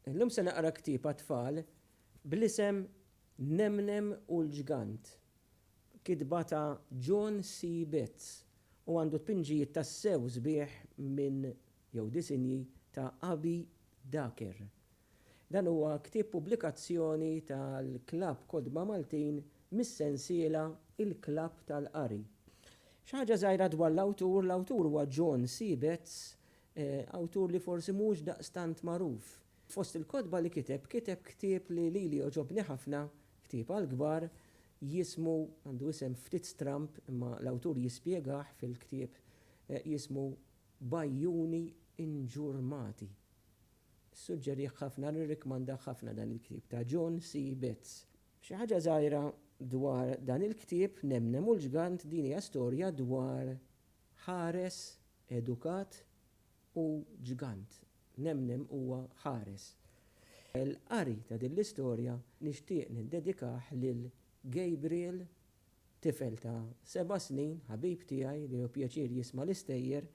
Illum se naqra ktieb għat-tfal bl-isem Nemnem u l-Ġgant, kitba ta' John C. Betts u għandu tpinġijiet tassew sbieħ minn, jew disinji ta' Abbie Daker. Dan huwa ktieb pubblikazzjoni tal-Klabb Kotba Maltin mis-sensiela Il-Klabb tal-Qari. Xi ħaġa żgħira dwar l-awtur, l-awtur huwa John C. Betts, Awtur li forsi mhux daqstant magħruf. Fost il-kotba li kiteb, kiteb ktieb li lili għoġobni ħafna, ktieb għall-kbar, jismu, għandu isem ftit stramb imma l-awtur jispjegah fil-ktieb, jismu B'għajjuni inġurmati. Nissuġġerih ħafna, nirrikmandah ħafna dan il-ktieb ta' John C. Betts. Xi ħaġa żgħira dwar dan il-ktieb, Nemnem u l-Ġgant, din hija storja dwar ħares Edukat u ġgant. Nemnem huwa ħares. Il-qari ta' din l-istorja nixtieq niddedikah lil Gabriel, tifel ta' seba' snin, ħabib tiegħi li hu pjaċir jisma' l-istejjer,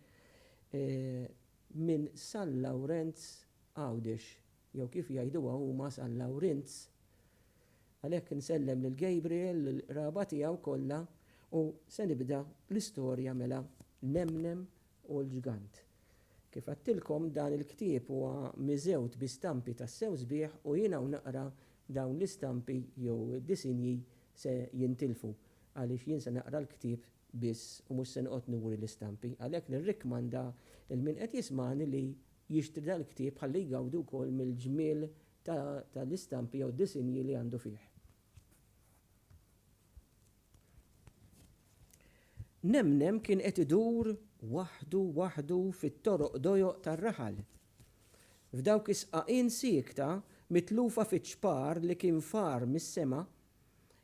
minn San Lawrenz Għawdex, Jew kif jgħiduha huma San Lawrinz. Għalhekk insellem lil Gabriel, lill-qraba tiegħu kollha u se nibda l-istorja mela Nemnem u l-Ġgant. Kif għedtilkom dan il-ktieb huwa miżewt bi stampi tassew sbieħ u jien hawn naqra dawn l-istampi jew disinji se jintilfu għaliex jien se naqra l-ktieb biss u mhux se noqgħod nuri l-istampi. Għalhekk nirrikkmanda lil min qed jismagħni li jixtri dan il-ktieb ħalli jgawdi wkoll mill-ġmiel ta' l-istampi jew disinji li għandu fih. Nemnem kien qed idur waħdu waħdu fit-toroq dojoq tar-raħal. F'dawk is-sqaqien siekta mitlufa fiċ-ċpar li kien far mis-sema,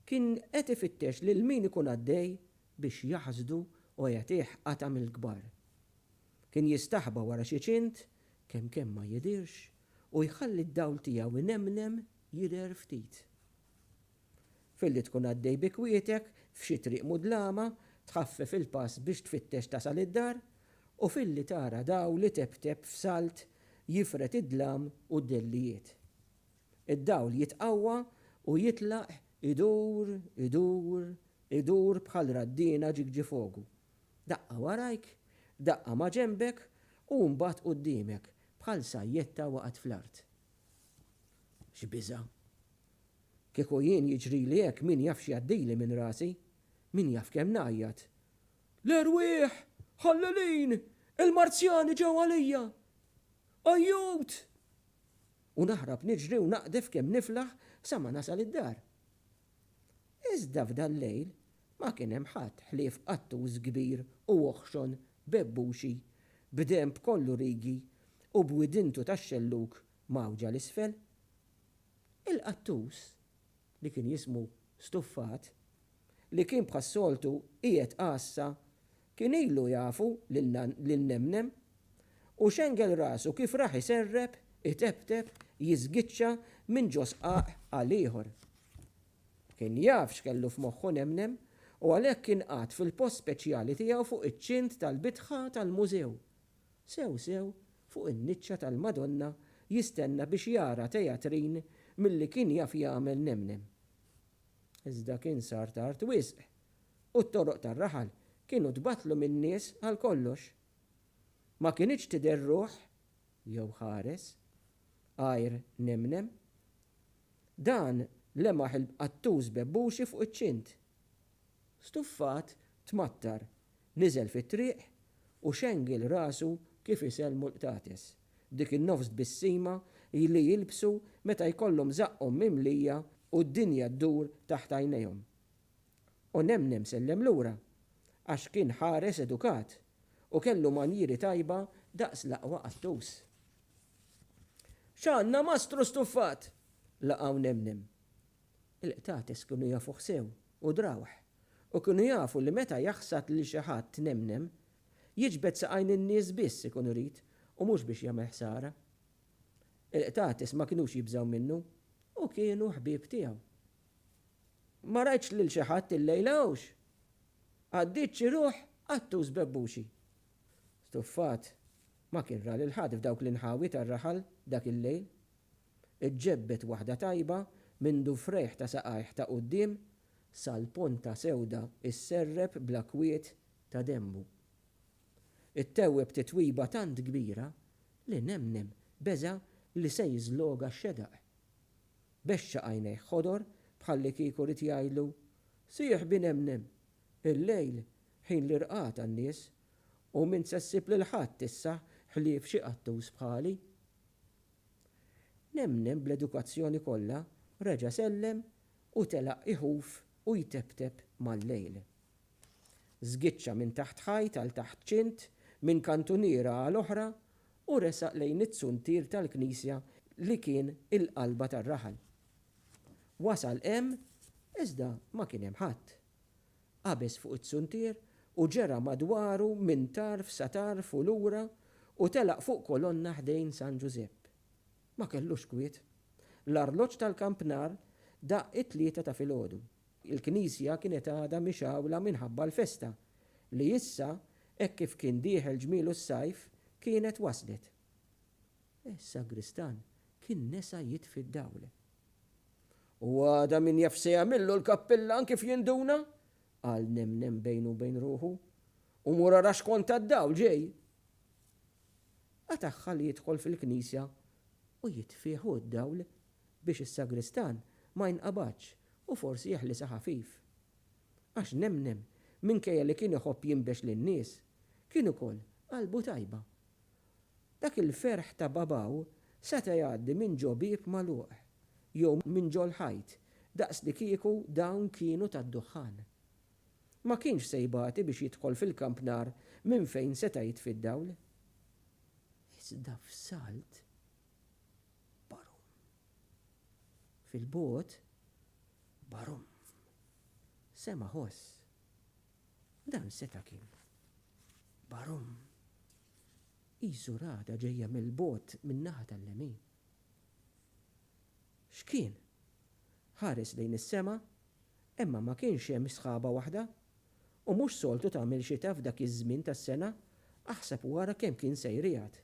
kien qed ifittex lil min ikun għaddej biex jaħsdu u jagħtih qatgħa mill-kbar. Kien jistaħba wara xi ċint, kemm kemm ma jidhirx, u jħalli d-dawl tiegħu inemnem jidher ftit. Filli tkun għaddej bi kwietek f'xi triq mudlama, tħaffef il-pass biex tfittex tasal id-dar, u filli tara dawl itebteb f'salt jifred id-dlam u d-dellijiet. Id-dawl jitqawwa u jitlaq idur, idur, idur bħal raddiena ġigġifogu, Daqqa warajk, daqqa maġenbek u mbagħad quddiemek, bħal sajjetta waqgħet fl-art. X'biża'! Kieku jien jiġrili hekk min jaf x'jgħaddili minn rasi. Min jaf kemm ngħajjat. L-erwieħ! Ħallelin! Il-Marzjani ġew għalija! Ajjut! U naħrab niġri u naqdef kemm niflaħ sa ma nasal id-dar. Iżda f'dal-lejl ma kien hemm ħadd ħlief qattus kbir u oħxon bebbuxi, b'denb kollu rigi u b'widintu tax-xellug mgħawġa 'l isfel. Il-qattus, li kien jismu Stuffat, li kien bħas-soltu qiegħed għassa Kien ilu jafu lil Nemnem u xengel rasu kif rah iserrep, itebteb, jiżgiċċa minn ġo sqaq għal ieħor. Kien jaf x'kellu f'moħħu Nemnem u għalhekk kien qagħad fil-post speċjali tiegħu fuq iċ-ċint tal-bitħa tal-mużew, sew sew fuq in-niċċa tal-Madonna jistenna biex jara tejatrin milli kien jaf jagħmel Nemnem. Iżda kien sar tard wisq u t-toroq tar-raħal kienu tbattlu min-nies għal kollox. Ma kinitx tidher ruħ, jew ħares, għajr nemnem. Dan lemaħ il-bqattuż bebbuxi fuq iċ-ċint. Stuffat tmattar, niżel fit-triq u xengel rasu kif isellmu l-qtates, dik in-nofs tbissima li jilbsu meta jkollhom żaqqhom mimlija u d-dinja ddur taħt għajnejhom. U Nemnem sellem lura, għax kien ħares edukat u kellu manjieri tajba daqs l-aqwa qattus. X'għandna mastru stuffat! laqgħu Nemnem. Il-qtates kienu jafuh sew u drawh u kienu jafu li meta jaħsad lil xi ħadd Nemnem, jiġbed saqajn in-nies biss ikun irid u mhux biex jagħmel ħsara. Il-qtates ma kinux jibżgħu minnu u kienu ħbieb tiegħu. Ma rajtx lil xi ħadd illejla hawnx. Għaddiet xi ruħ qattus bebbuxi. Stuffat, ma kien ra lil ħadd f'dawk l-inħawi tar-raħal dak il-lejl. Iġġebbed waħda tajba mindu frejħ ta' saqajh ta' quddiem sal-ponta sewda sserrep bla kwiet ta' denbu. Ittewweb titwiba tant kbira li nemnem beża' li se jiżloga x-xedaq. Bexxa għajnejh ħodor bħallikieku ried jgħidlu, Sieħbi nemnem! Il-lejl ħin l-irqad għan-nies u m'int se ssib lil ħadd issa ħlief xi qattus bħali. Nemnem bl-edukazzjoni kollha reġa' sellem u telaq iħuf u jteptep mal-lejl. Żgiċċa minn taħt ħajt għal taħt ċint, minn kantuniera għal oħra u resaq lejn it-tsuntier tal-knisja li kien il-qalba tar-raħal. Wasal hemm iżda ma kien hemm ħadd. Qabeż fuq it-tsuntier u ġera madwaru minn tarf sa tarf u lura u telaq fuq kolonna ħdejn San Ġużepp. Ma kellux kwiet. L-arloġġ tal-kampnar daqq it-tlieta ta' filgħodu. Il-knisja kienet għadha mixgħula minħabba l-festa, li issa, hekk kif kien dieħel ġmielu s-sajf, kienet waslet. Is-sagristan kien nesa jitfi d-dawl. U għada min jaf se jagħmillu l-kappillan kif jinduna? qal Nemnem bejnu u bejn ruħu. U mur ara x'kont tad-dawl ġej! Qatagħha li jidħol fil-knisja u jitfih hu d-dawl biex is-sagristan ma jinqabadx u forsi jeħlisha ħafif. Għax nemnem, minkejja li kien iħobb jinbex lin-nies, kien ukoll qalbu tajba. Dak il-ferħ ta' babaw seta' jgħaddi minn ġo bieb magħluq, jew minn ġol-ħajt, daqslikieku dawn kienu tad-duħħan. Ma kienx se jbati biex jidħol fil-kamp nar minn fejn seta' jitfi d-dawl. Iżda f'salt. Barum. Fil-bogħod, barum. Sema' ħoss. Dan seta' kien. Barum. Qisu ragħda ġejja mill-bogħod min-naħa tal-lemin. X'kien? Ħares lejn is-sema, imma ma kienx hemm sħaba waħda. U mhux soltu tagħmel xita f'dak iż-żmien tas-sena, aħseb u ara kemm kien sejriegħed.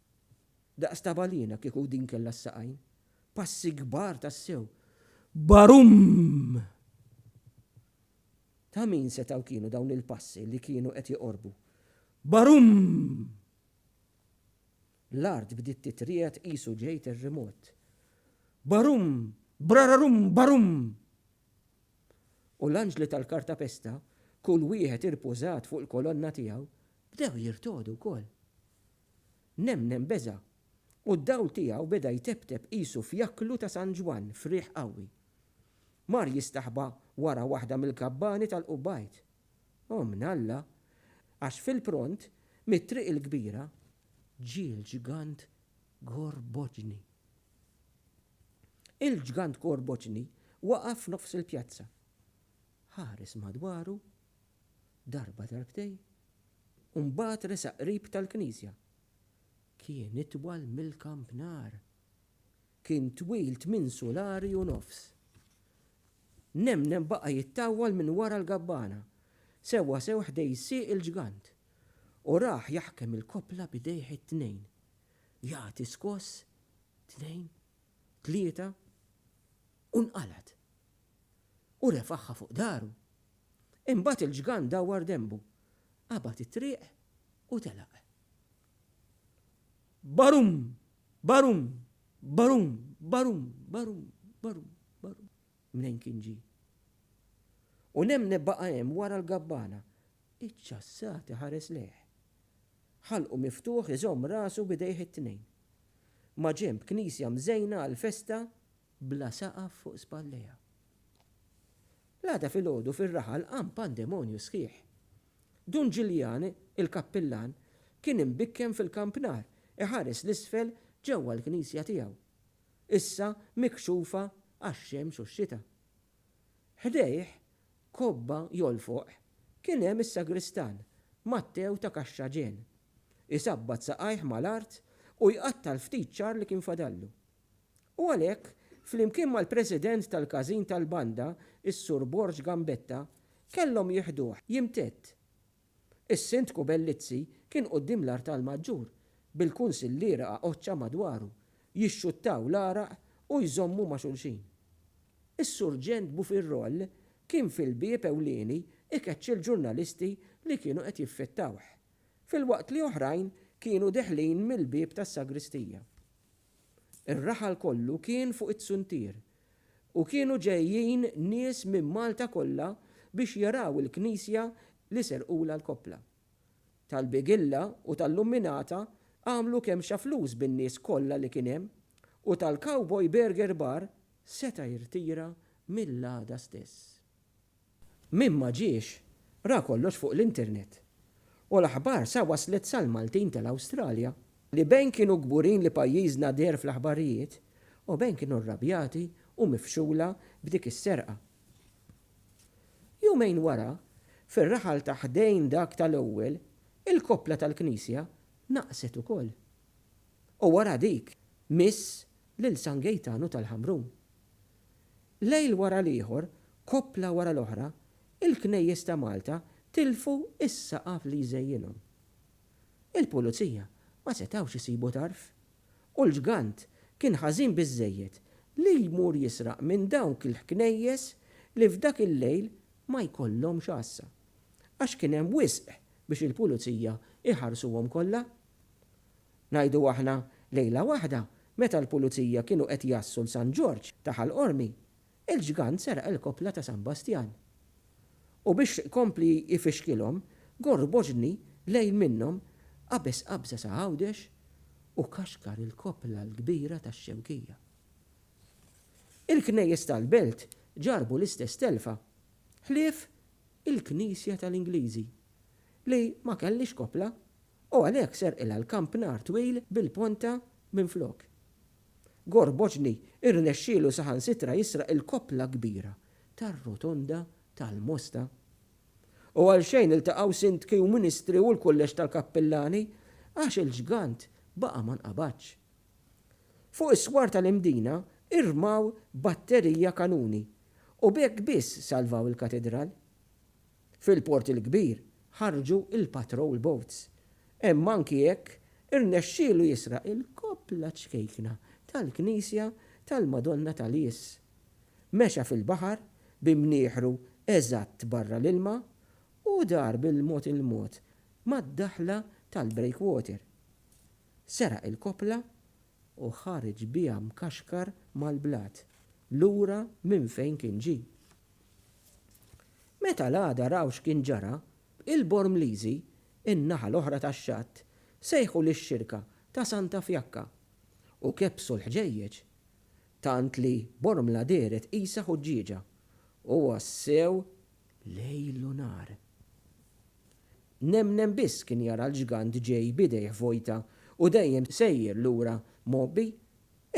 Daqs ta' balena kieku din kellha s-saqajn. Passi kbar tassew. Barumm! Ta' min setgħu kienu dawn il-passi li kienu qed joqorbu? Barumm! L-art bdiet titriegħed qisu ġej terrimot. Barumm! Brararumm! Barumm! U l-anġli tal-kartapesta, kull wieħed irpużat fuq il-kolonna tiegħu, bdew jirtogħdu wkoll. Nemnem beża', u d-dawl tiegħu beda jteptep qisu fjakklu ta' San Ġwann f'riħ qawwi. Mar jistaħba wara waħda mill-kabbani tal-qubbajt. O minn Alla! Għax fil-pront, mit-triq il-kbira, ġie l-ġgant Gorboċni. Il-ġgant Gorboċni waqaf f'nofs il-pjazza. Ħares madwaru darba darbtejn u mbagħad resaq qrib tal-knisja. Kien itwal mill-kampnar. Kien twil tmien sulari u nofs. Nemnem baqa' jittawwal minn wara l-gabbana, sewwa sew ħdej sieq il-ġgant, u rah jaħkem il-koppla b'idejh it-tnejn, jagħti skoss, tnejn, tlieta, u nqalgħet. u refagħha fuq daru. Imbagħad il-ġgant dawwar denbu, qabad it-triq u telaq. Barum! Barum! Barum! Barum! Barum! Barum! Barum! Mnejn kien ġie? U nemne baqa' hemm wara l-gabbana, iċċassat iħares lejh. Ħalqu miftuħ iżomm rasu b'idejh it-tnejn. Maġenb knisja mżejna għall-festa bla saqaf fuq spallejha. L-għada filgħodu fir-raħal qam pandemonju sħiħ. Dun Ġiljan, il-kappillan, kien imbikken fil-kampnar iħares 'l isfel ġewwa l-knisja tiegħu, issa mikxufa għax-xemx u x-xita. Ħdejh, kobba jolfoq, kien hemm is-sagristan, Mattew ta' Kaxxaġen, isabbat saqajh mal-art u jqatta' l-ftit ċagħar li kien fadallu. U għalhekk, flimkien mal-President tal-Każin tal-Banda, is-Sur Borg Gambetta, kellhom jiħduh jimtedd. Is-Sindku Bellizzi kien quddiem l-artal maġġur, bil-kunsilliera għaqodxa madwaru, jixxuttaw l-għaraq u jżommu ma' xulxin. Is-Surġent Bufirroll kien fil-bieb ewlieni ikeċċi l-ġurnalisti li kienu qed jiffittawh, filwaqt li oħrajn kienu deħlin mill-bieb tas-sagristija. Ir-raħal kollu kien fuq it-suntier u kienu ġejjin nies minn Malta kollha biex jaraw il-knisja li serqulha l-koppla. Tal-Bigilla u tal-Lumminata għamlu kemxa flus bin-nies kollha li kien hemm u tal-Cowboy Burger Bar seta' jirtira mill-għada stess. Min ma ġiex, ra kollox fuq l-internet. U l-aħbar sa waslet sal-Maltin tal-Awstralja, li bejn kienu kburin li pajjiżna deher fl-aħbarijiet u bejn kienu rrabjati u mifxula b'dik is-serqa. Jumejn wara, fir-raħal ta' ħdejn dak tal-ewwel, il-koppla tal-knisja naqset ukoll. U wara dik, miss lil San Gejtanu tal-Ħamrun. Lejl wara l-ieħor, koppla wara l-oħra, il-knejjes ta' Malta tilfu s-saqaf li jżejjinhom. Il-Pulizija ma setgħux isibu tarf, u l-ġgant kien ħażin biżżejjed li jmur jisraq minn dawk il-ħknejjes li f'dak il-lejl ma jkollhomx għassa, għax kien hemm wisq biex il-Pulizija jħarsuhom kollha. Ngħidu aħna, lejla waħda, meta l-pulizija kienu qed jgħassu 'l San Ġorġ ta' Ħal Qormi, il-ġgant seraq il-koppla ta' San Bastjan. U biex ikompli jfixkilhom, gorr boġni lejn minnhom, qabeż qabża sa Għawdex u kaxkar il-koppla l-kbira tax-Xewkija. Il-knejjes tal-belt ġarrbu l-istess telfa, ħlief il-knisja tal-Ingliżi, li ma kellhiex koppla u għalhekk serqilha l-kamp nar twil bil-ponta minflok. Gorboċni rnexxielu saħansitra jisraq il-koppla kbira tar-Rotonda tal-Mosta. U għal xejn iltaqgħu sindki u ministri u l-kulleġġ tal-kappillani għax il-ġgant baqa' ma nqabadx. Fuq is-swar tal-Imdina irmaw batterija kanuni u b'hekk biss salvaw il-katidral. Fil-Port il-Kbir ħarġu l-patrol boats. Hemm anki hekk irnexxielu jisraq il-koppla ċkejkna tal-knisja tal-Madonna ta' Lies. Mexa fil-baħar bi mnieħru eżatt barra l-ilma u dar bil-mod il-mod mad-daħla tal-breakwater. Seraq il-koppla u ħareġ biha mkaxkar mal-blat, lura minn fejn kien ġie. Meta l-għada raw x'kien ġara, il-Bormliżi, in-naħa l-oħra tax-xatt, sejħu lix-xirka ta' Santa Fjakka u kebbsu l-ħġejjeġ, tant li Bormla dehret qisha ħuġġieġa, u wassew lejl u nhar. Nemnem biss kien jara l-ġgant ġej b'idejh vojta u dejjem sejjer lura mgħobbi.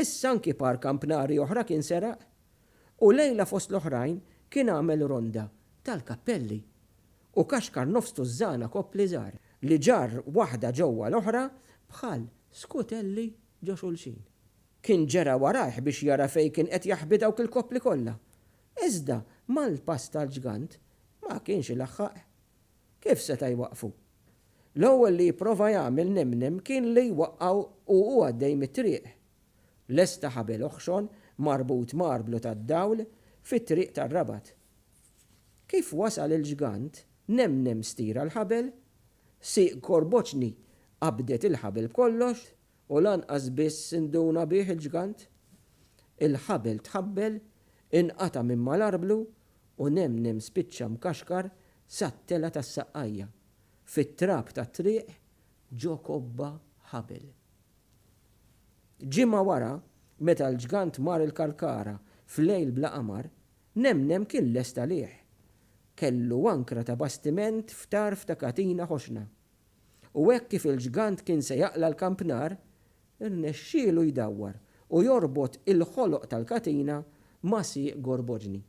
Issa anki par kampnari oħra kien seraq. U lejla fost l-oħrajn kien għamel ronda tal-kappelli u kaxkar nofs tużżana koppli żgħar li ġarr waħda ġewwa l-oħra bħal skutelli ġo xulxin. Kien ġera warajh biex jara fejn kien qed jaħbi dawk il-koppli kollha. Iżda mal-pass tal-ġgant ma kienx ilaħħaq. Kif seta' jwaqqfu? L-ewwel li jipprova jagħmel Nemnem kien li jwaqqgħu u hu għaddej mit-triq. Lesta ħabel oħxon marbut marblu tad-dawl fit-triq tar-Rabat. Kif wasal il-ġgant, Nemnem stira l-ħabel, sieq korboċni qabdet il-ħabel b'kollox, U lanqas biss induna bih il-ġgant. Il-ħabel tħabbel, inqata' minn mal-arblu u nemnem spiċċa mkaxkar sat-telgħa tas-saqqajja, fit-trab tat-triq ġo kobba ħabel. Ġimgħa wara, meta l-ġgant mar il-Kalkara f'lejl bla qamar, nemnem kien lest għalih. Kellu ankra ta' bastiment f'tarf ta' katina ħoxna. U hekk kif il-ġgant kien se jaqla' l-kampnar, irnexxielu jdawwar u jorbot il-ħoloq tal-katina ma' sieq gorboġni.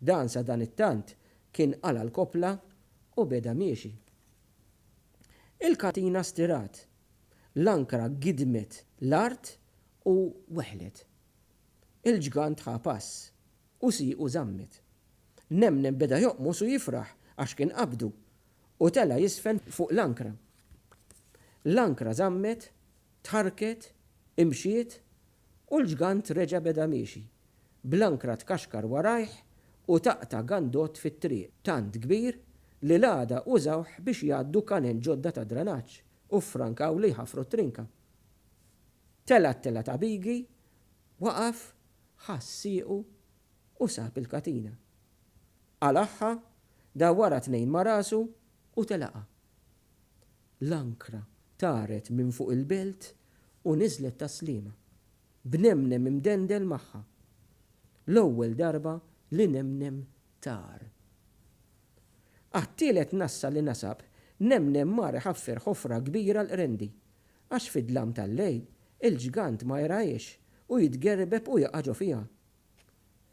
Dan sadanittant kien qala' l-koppla u beda miexi. Il-katina stirat, l-ankra gidmet l-art u weħlet. Il-ġgant ħa pass u siequ żammet. Nemnem beda joqmos u jifraħ għax kien qabdu U tela' jiżfen fuq l-ankra. L-ankra żammet, tħarrket, imxiet, u l-ġgant reġa' beda miexi, bl-ankra tkaxkar warajh u taqta' gandot fit-triq tant kbir li l-għada użawh biex jgħaddu kanel ġodda ta' dranaġġ u ffrankaw li jħaffru t-trinka. Tela' t-tela' ta' Bighi waqaf, ħass siequ u sab il-katina. Qalagħha, dawwarha tnejn ma' rasu u telaqha. L-ankra taret minn fuq il-belt u niżlet tas-sliema, b'Nemnem imdendel magħha. L-ewwel darba li Nemnem tar. Għat-tielet nassa li nasab, Nemnem mar iħaffer ħofra kbira l-qrendi, għax fid-dlam tal-lejl, il-ġgant ma jarahiex u jitgerbeb u jaqa' ġo fiha.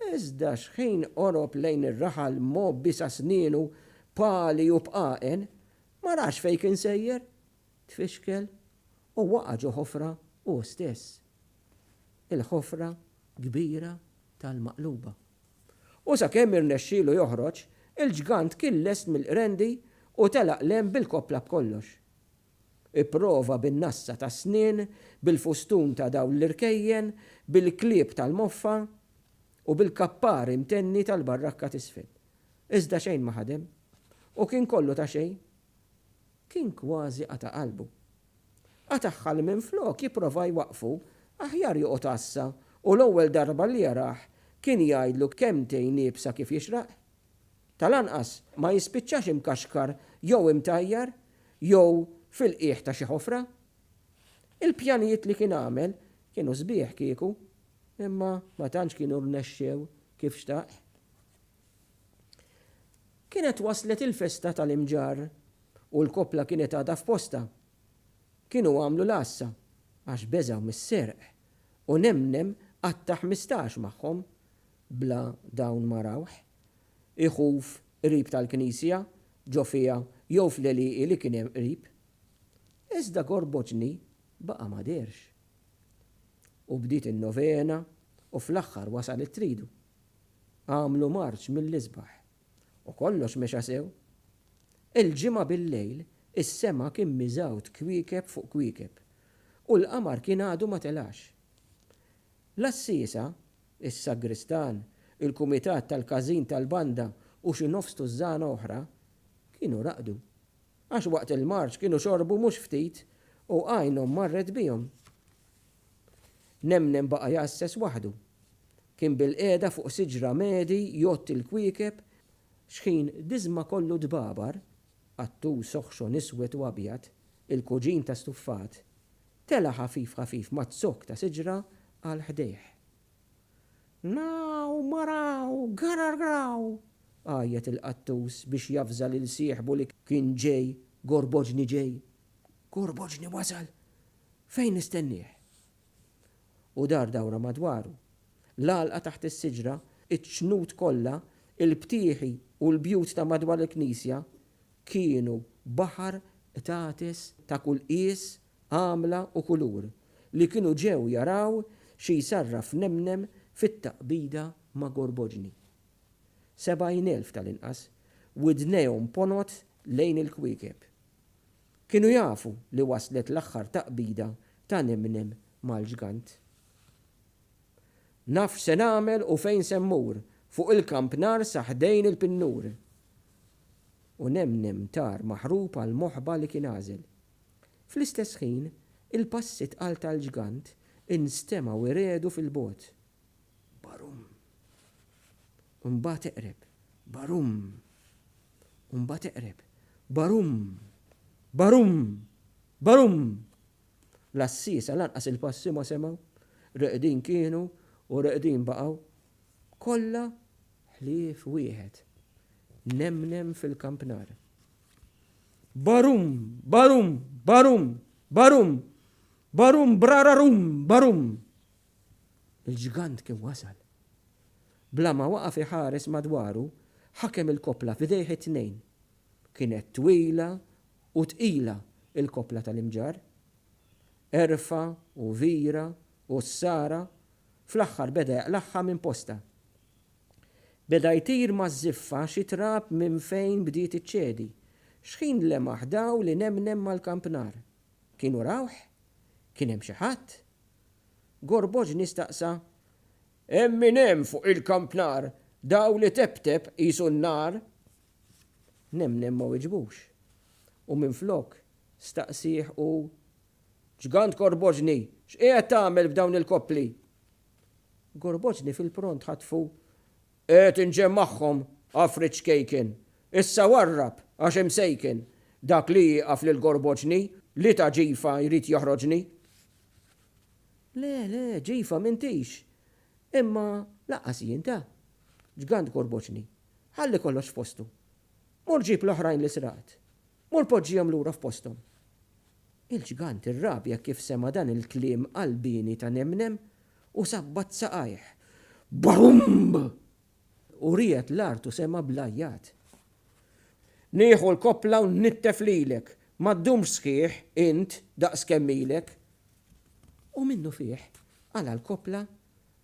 Iżda xħin qorob lejn ir-raħal mgħobbi sa snienu b'għali u b'qagħen, ma rax fejn kien sejjer, tfixkel u waqa' ġo ħofra hu stess. Il-ħofra kbira tal-Maqluba. U sakemm irnexxielu joħroġ, il-ġgant kien lest mill-qrendi u telaq 'l hemm bil-koppla b'kollox. Ipprova bin-nassa tas-snien, bil-fustun ta' dawl l-irkejjen, bil-klieb tal-moffa, u bil-kappar imtenni tal-barrakka t'isfel. Iżda xejn ma ħadem. U kien kollu ta' xejn. Kien kważi qata' qalbu. Qatagħha li minflok jipprova jwaqqfu, aħjar joqgħod għassa u l-ewwel darba li jarah kien jgħidlu kelmtejn iebsa kif jixraq. Tal-anqas ma jispiċċax imkaxkar jew imtajjar jew fil-qiegħ ta' xi ħofra. Il-pjanijiet li kien għamel kienu sbieħ kieku, imma ma tantx kienu rnexxew kif xtaq. Kienet waslet il-festa tal-Imġarr u l-koppla kienet għadha f'postha. Kienu għamlu l-għassa għax beżgħu mis-serq u nemnem qatta' ħmistax magħhom bla dawn ma rawh. iħuf qrib tal-knisja, ġo fiha jew fl-għelieqi li kien hemm qrib. Iżda Gorboċni baqa' ma dehrx. U bdiet in-novena u fl-aħħar wasal it-tridu. Għamlu marċ mill-isbaħ. U kollox mexa sew. Il-Ġimgħa bil-lejl is-sema kien miżgħud kwiekeb fuq kwiekeb u l-qamar kien għadu ma telax. L-għassiesa is-sagristan, il-kumitat tal-każin tal-banda u xi nofs tużżana oħra kienu raqdu. Għax waqt il-marċ kienu xorbu mhux ftit u għajnhom marret bihom. Nemnem baqa' jgħasses waħdu. Kien bilqiegħda fuq siġra medi jgħodd il-kwiekeb, xħin diżma kollu dbabar, qattus oħxon iswed u abjad, il-kuġin ta' stuffat, Tela' ħafif ħafif ma' zokk ta' siġra għal ħdejh. Naaw, maraaw, garargraw! għajjet il-qattus biex javża lil sieħbu li kien ġej, Gorboġni ġej! Gorboġni wasal! Fejn nistennieh? U dar dawra madwaru. L-għalqa taħt is-siġra, iċ-ċnut kollha, il-btieħi u l-bjut ta' madwar il-knisja, kienu baħar qtates ta' kull qies, għamla u kulur li kienu ġew jaraw xi jsarraf Nemnem fit-taqbida ma' Gorboġni. Sebgħin elf tal-inqas widnejhom ponot lejn il-kwiekeb. Kienu jafu li waslet l-aħħar taqbida ta' Nemnem mal-ġgant. Naf x'se nagħmel u fejn se mmur, fuq il-kampnar sa ħdejn il-pinnur! u nemnem tar maħrub għall-moħba li kien għażel. Fl-istess ħin, il-passi tqal tal-ġgant instemgħu jregħdu fil-bogħod. Barumm! U mbagħad eqreb. Barumm! U mbagħad eqreb. Barumm! Barumm! Barumm! L-għassiesa lanqas il-passi ma semgħu. Reqdin kienu u reqdin baqgħu. Kollha ħlief wieħed. Nemnem fil-kampnar. Barum! Barum! Barum! Barum! Barum! Brararum! Barum! Il-ġgant kien wasal. Bla ma waqaf iħares madwaru, ħakem il-koppla f'idejh it-tnejn. Kienet twila u tqila il-koppla tal-imġarr. Erfa' u vira u ssara Fl-aħħar beda jaqlagħha minn postha. Beda jtir maż-żiffa xi trab minn fejn bdiet iċċedi. Xħin lemaħ dawl inemnem mal-kampnar. Kienu rawh? Kien hemm xi ħadd? Gorboġni staqsa, Hemm min hemm fuq il-kampnar, dawl iteptep qisu n-nar? Nemnem ma weġbux u minflok staqsieh hu Ġgant Gorboġni, x'qiegħed tagħmel f'dawn il-koppli? Gorboġni fil-pront ħatfu, Qiegħed inġemmagħhom, għafrit ċkejken. Issa warrab, għax imsejken. Dak li jieqaf lil Gorboġni, li ta' ġifa jrid joħroġni. Le, le, ġifa m'intix. Imma lanqas jien ta. Ġgant Gorboġni, ħalli kollox f'postu. Mur ġib l-oħrajn li sraqt. Mur poġġihom lura f'posthom. Il-ġgant irrabja kif sema' dan il-kliem qalbieni ta' nemnem u sabbat saqajh. Bumb! U riegħed l-art u sema' bl-għajjat. Nieħu l-koppla u nnittef lilek. Ma ddumx sħiħ, int, daqs kemm ilek. U minnufih qala' l-koppla,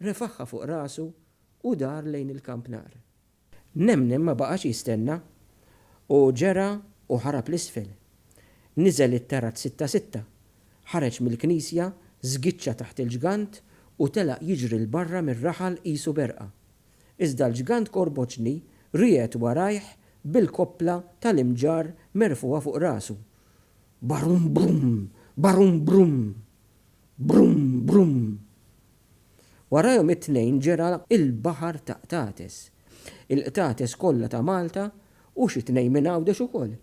refaħha fuq rasu u dar lejn il-kampnar. Nemnem ma baqax jistenna u ġera u ħarab 'l isfel. Niżel it-terrazzi ta' sitta, ħareġ mill-knisja, żgiċċa taħt il-ġgant u telaq jiġri 'l barra mir-raħal qisu b'erqa. Iżda l-ġgant korboċni riegħed warajh bil-koppla tal-imġarr merfugħa fuq rasu. Barum brum! Barum brum! Brum brum! Warajhom it-tnejn ġera l-baħar ta' qtates. Il-qtates kollha ta' Malta u xi tnejn minn Għawdex ukoll.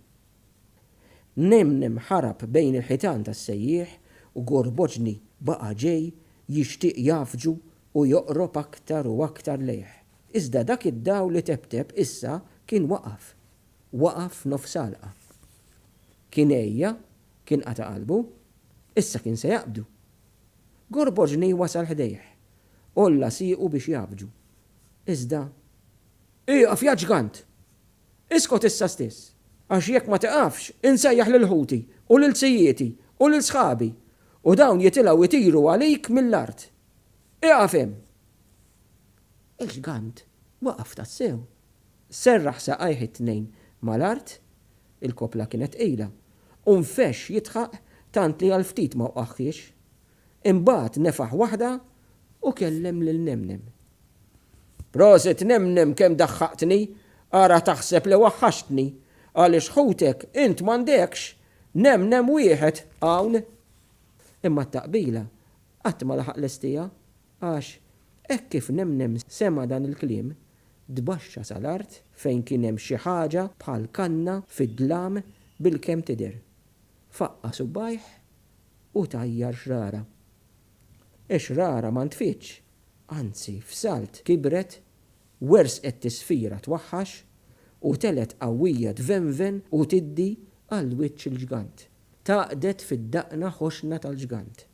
Mnemnem ħarab bejn il-ħitan tas-sejjieħ u Gorboġni baqa' ġej jixtieq jgħaffġu u joqrob aktar u aktar lejh. Iżda dak id-dawl li tebteb issa kien waqaf. Waqaf f'nofs għalqa. Kien għejja, kien qata' qalbu. Issa kien se jaqbdu. Gorboġni wasal ħdejh. Għolla siequ biex jgħaffġu. Iżda. Ieqaf, ja ġgant! Iskot issa stess, għax jekk ma tiqafx, insejjaħ lil ħuti, u lil sijieti, u lil sħabi, u dawn jitilgħu jtiru għalik mill-art. Ieqaf hemm! Il-ġgant waqaf tassew. Serraħ saqajh it-tnejn mal-art, Il-koppla kienet tqila, u nfexx jidħaq tant li għal ftit ma wqagħhiex. Imbagħad nefaħ waħda u kellem lil Nemnem. Prosit Nemnem kemm daħħaqtni, ara taħseb li waħħaxtni, għaliex ħutek int m'għandekx Nemnem wieħed hawn! Imma t-taqbila qatt ma laħaq lestiha Għax, hekk kif Nemnem sema' dan il-kliem, tbaxxa sa l-art fejn kien hemm xi ħaġa bħal kanna fid-dlam bilkemm tidher. Faqqa' subgħajh u tajjar xrara. Ix-xrara ma ntfietx, anzi f'salt kibret, wersqet tisfira twaħħax u telgħet qawwija tvenven u tiddi għal wiċċ il-ġgant. Tgħaqqdet fid-daqna ħoxna tal-ġgant.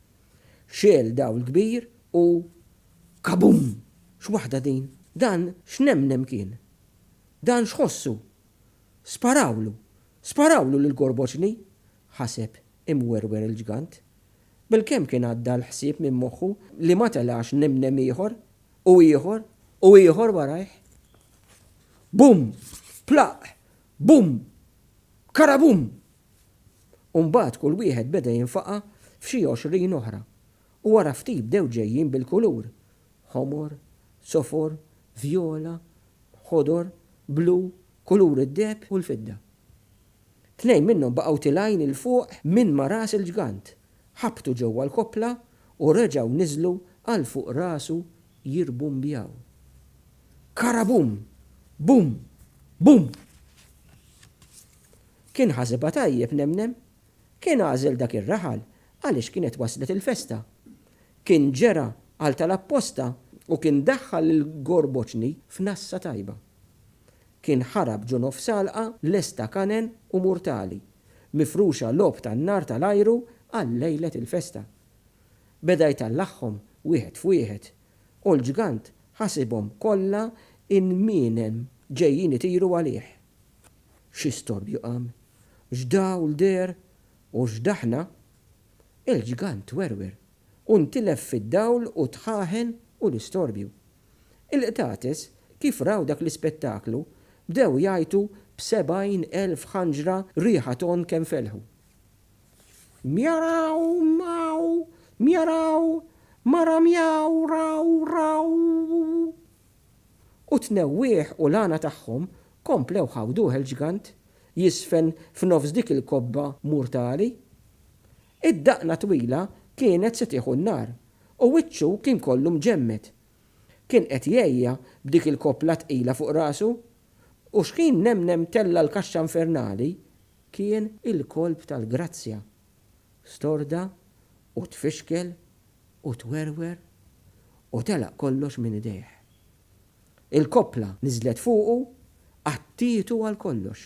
Xegħel dawl kbir u kabum! X'waħda din? Dan x'nemnem kien? Dan x'ħossu? Sparawlu! Sparawlu lil Gorboċni! ħaseb imwerwer il-ġgant. Bilkemm kien għadda l-ħsieb minn moħħu li ma telax nemnem ieħor, u ieħor, u ieħor warajh. Bum! Plaqq! Bum! Karabum! U mbagħad kull wieħed beda jinfaqa' f'xi għoxrin oħra, u wara ftit bdew ġejjin bil-kulur, ħomor, sofor, vjola, ħodor, blu, kulur id-deheb u l-fidda. Tnejn minnhom baqgħu tilgħin 'il fuq minn ma' ras il-ġgant, ħabtu ġewwa l-koppla u reġgħu niżlu għal fuq rasu jirbumbjaw. Karabum! Bum! Bum! Kien ħasibha tajjeb nemnem. Kien għażel dak ir-raħal għaliex kienet waslet il-festa. Kien ġera għal tal apposta u kien daħħal lil Gorboċni f'nassa tajba. Kien ħarab ġo nofsgħalqa lesta kanen u murtali, mifruxa logħob tan-nar tal-ajru għal lejlet il-festa. Beda jtallagħhom wieħed f'wieħed u l-ġgant ħasibhom kollha inminem ġejjin itiru għalih. xi storbju qam, x'dawl deher u x'daħna, il-ġgant werwer u ntilef fid-dawl u t-tħaħen u l-istorbju. Il-qtates kif raw dak l-ispettaklu bdew jgħajtu b'sebgħin elf ħanġra riħa tonn kemm felħu. Mjaraw, mjaw, mjaraw, mara mjaw, raw, raw! U t-tnewwieħ u l-għana tagħhom komplew ħawduh il-ġgant jiżfen f'nofs dik il-kobba murtali. Id-daqna twila kienet se tieħu n-nar u wiċċu kien kollu mġemmed. Kien qed jgħejja b'dik il-koppla tqila fuq rasu u xħin nemnem tella' l-kaxxa infernali kien il-kolp tal-grazzja. Storda u tfixkel u twerwer u telaq kollox minn idejh. Il-koppla niżlet fuqu, qattietu għal kollox,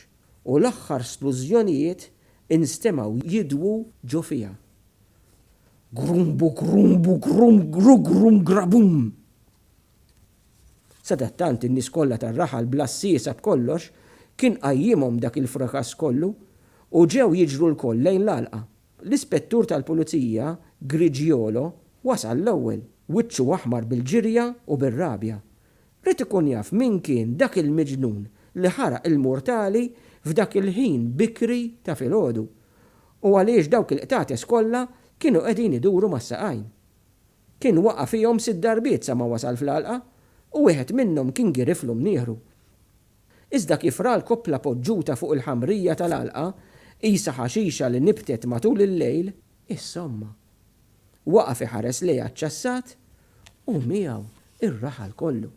u l-aħħar splużjonijiet instemgħu jidwu ġo fiha. Grumbugrumbugrumbgrugrumgrabum! Sadattant in-nies kollha tar-raħal bla ssiesa b'kollox kien qajjimhom dak il-frakass kollu u ġew jiġru lkoll lejn l-għalqa. L-Ispettur tal-Pulizija Grigiolo wasal l-ewwel. Wiċċu aħmar bil-ġirja u bir-rabja. Ried ikun jaf min kien dak il-miġnun li ħaraq il-murtali f'dak il-ħin bikri ta' filgħodu, u għaliex dawk il-qtates kollha kienu qegħdin iduru mas-saqajn. Kien waqa' fihom sitt darbiet sa ma wasal fl-għalqa, u wieħed minnhom kien giriflu mnieħru. Iżda kif ra l-koppla poġġuta fuq il-ħamrija tal-għalqa, qisha ħaxixa li nibtet matul il-lejl, insomma. Waqaf iħares lejha ċċassat u miegħu r-raħal kollu.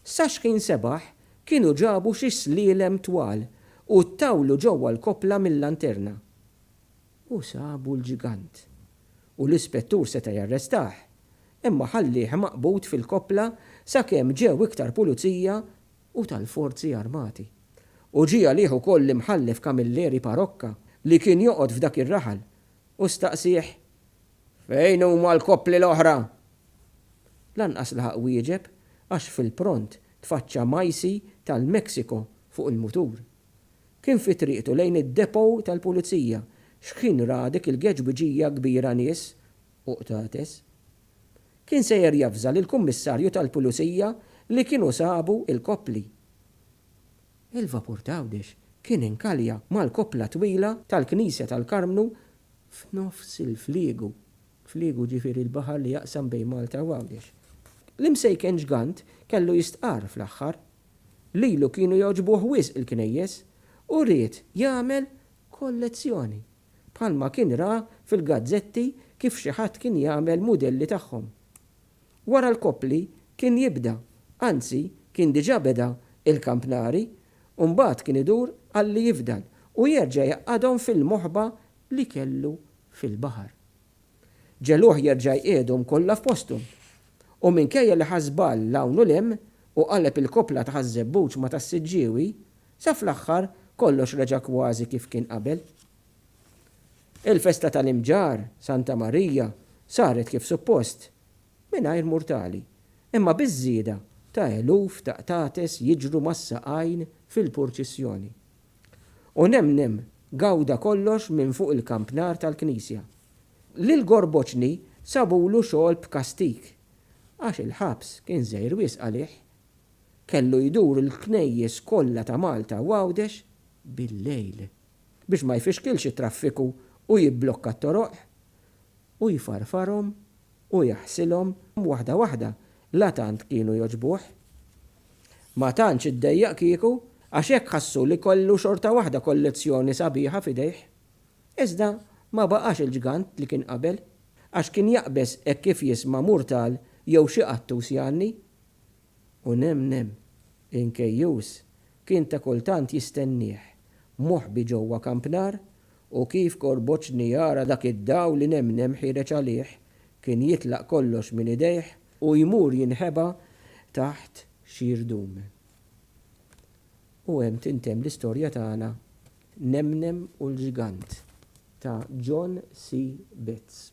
Sa xħin sebaħ kienu ġabu xi slielem twal u ttawlu ġewwa l-koppla mil-lanterna. U sabu l-ġigant. U l-ispettur seta' jarrestah, imma ħallieh maqbud fil-koppla sakemm ġew iktar pulizija u tal-forzi armati. U ġie għalih ukoll l-Imħallef Camilleri Parocca li kien joqgħod f'dak ir-raħal u staqsieh, Fejn huma l-koppli l-oħra? Lanqas laħaq wieġeb għax fil-pront tfaċċa Majsi tal-Mexico fuq il-mutur. Kien fi triqtu lejn id-depot tal-pulizija x'ħin ra dik il-geġbiġija kbira nies u qtates. Kien sejjer javża lill-kummissarju tal-pulizija li kienu sabu l-koppli. Il-vapur t'Għawdex kien inkalja mal-koppla twila tal-knisja tal-Karmnu f'nofs il-fliegu. Fliegu jiġifieri l-baħar li jaqsam bejn Malta u Għawdex. L-imsejken ġgant kellu jistqarr fl-aħħar Lilu kienu jogħġbuh wisq il-knejjes u ried jagħmel kollezzjoni, bħalma kien ra fil-gazzetti kif xi ħadd kien jagħmel mudelli tagħhom. Wara l-koppli kien jibda, anzi kien diġà beda il-kampnari u mbagħad kien idur għalli jifdal u jerġa' jgħaqqadhom fil-moħba li kellu fil-baħar. Ġegħluh jerġa' jqiegħdhom kollha f'posthom. U minkejja li ħa żball 'l hawn u 'l hemm u qaleb il-koppla ta' Ħaż-Żebbuġ ma' Tas-Siġġiewi, sa fl-aħħar kollox reġa' kważi kif kien qabel. Il-festa tal-Imġarr, Santa Marija, saret kif suppost, mingħajr murtali, imma biż-żieda ta' eluf ta' qtates jiġru mas-saqajn fil-purċissjoni. U nemnem gawda kollox minn fuq il-kampnar tal-knisja. Lil Gorboċni sabulu xogħol b'kastig għax il-ħabs kien żgħir wisq għalih. Kellu jdur il-knejjes kollha ta' Malta u Għawdex bil-lejl biex ma jfixkilx it-traffiku u jibblokka t-toroq u jfarfarhom u jaħsilhom waħda waħda, la tant kienu jogħġbuh. Ma tantx iddejjaq kieku, għax hekk ħassu li kollu xorta waħda kollezzjoni sabiħa f'idejh. Iżda ma baqax il-ġgant li kien qabel, għax kien jaqbeż hekk kif jisma' murtal jew xi qattus jgħanni. U nem nem, inkejjus kien ta' kultant jistennieh, moħbi ġewwa kampnar U kif korboċni jara dak id-dawl li nemnem ħiereġ għalih, kien jitlaq kollox minn idejh u jmur jinħeba taħt xi rdum. U hemm tintemm l-istorja tagħna Nemnem u l-Ġigant ta' John C. Betts.